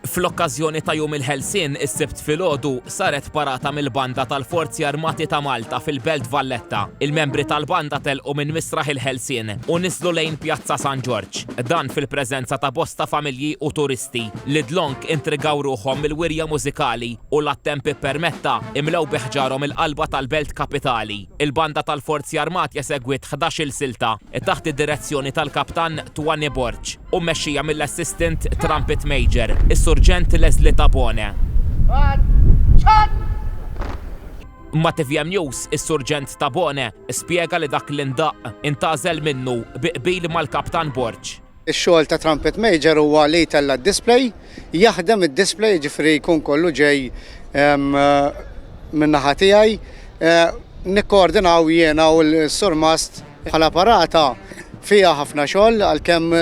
Fl-okkażjoni ta' Jum il-Ħelsien is-Sibt filgħodu saret parata mill-Banda tal-Forzi Armati ta' Malta fil-Belt Valletta. Il-membri tal-Banda telqu minn Misraħ il-Ħelsien u niżlu lejn Pjazza San Ġorġ. Dan fil-preżenza ta' bosta familji u turisti li dlonk intrigaw ruħhom mill-wirja mużikali u l-għat-temp ippermetta imlew bi ħġarhom il-qalba tal-Belt Kapitali. Il-Banda tal-Forzi Armati esegwiet ħdax-il silta taħt id-direzzjoni tal-Kaptan Twanny Borg. u mmexxija mill-Assistant Trumpet Major, is-Surġent Leslie Tabone. Ma' tvm News, is-Surġent Tabone spjega li dak li ndaqq intgħażel minnu bi qbil mal-Kaptan Borg. Ix-xogħol ta' Trumpet Major huwa li jtella' d-display, jaħdem id-display, jiġifieri jkun kollu ġej min-naħa tiegħi. Nikkoordinaw jiena u s-Surmast. Bħala parata fiha ħafna xogħol għalkemm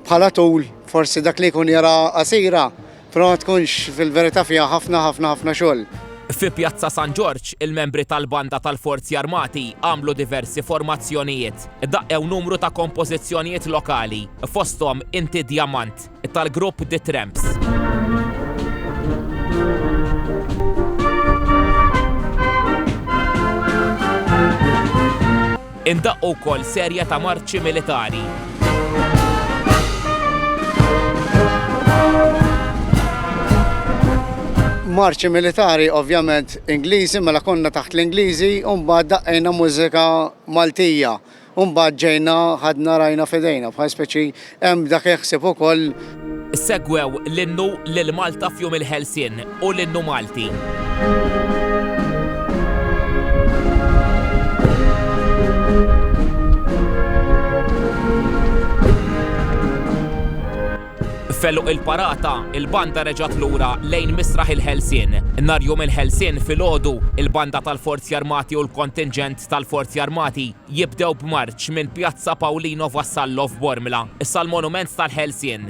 bħala tul forsi dak li jkun jara qasira, però ma tkunx fil-verità fiha ħafna ħafna ħafna xogħol. Fi Pjazza San Ġorġ, il-membri tal-Banda tal-Forzi Armati għamlu diversi formazzjonijiet. Daqqew numru ta' kompożizzjonijiet lokali, fosthom Inti Djamant. tal-grupp The Tramps. indaqqu wkoll serje ta' marċi militari. Marċi militari ovvjament Ingliżi mela konna taħt l-Ingliżi u mbagħad daqqejna mużika Maltija. U mbagħad ġejna ħadna rajna f'idejna bħal speċi hemm dak jaħseb ukoll. Segwew l-innu lil Malta f'Jum il-Ħelsien u l-innu Malti. F'għeluq il-parata, il-banda reġgħet lura lejn Misraħ il-Ħelsien. Nhar Jum il-Ħelsien filgħodu, il-banda tal-Forzi Armati u l-kontinġent tal-Forzi Armati jibdew b'marċ minn Pjazza Paulino Vassallo f'Bormla sal-Monument tal-Ħelsien.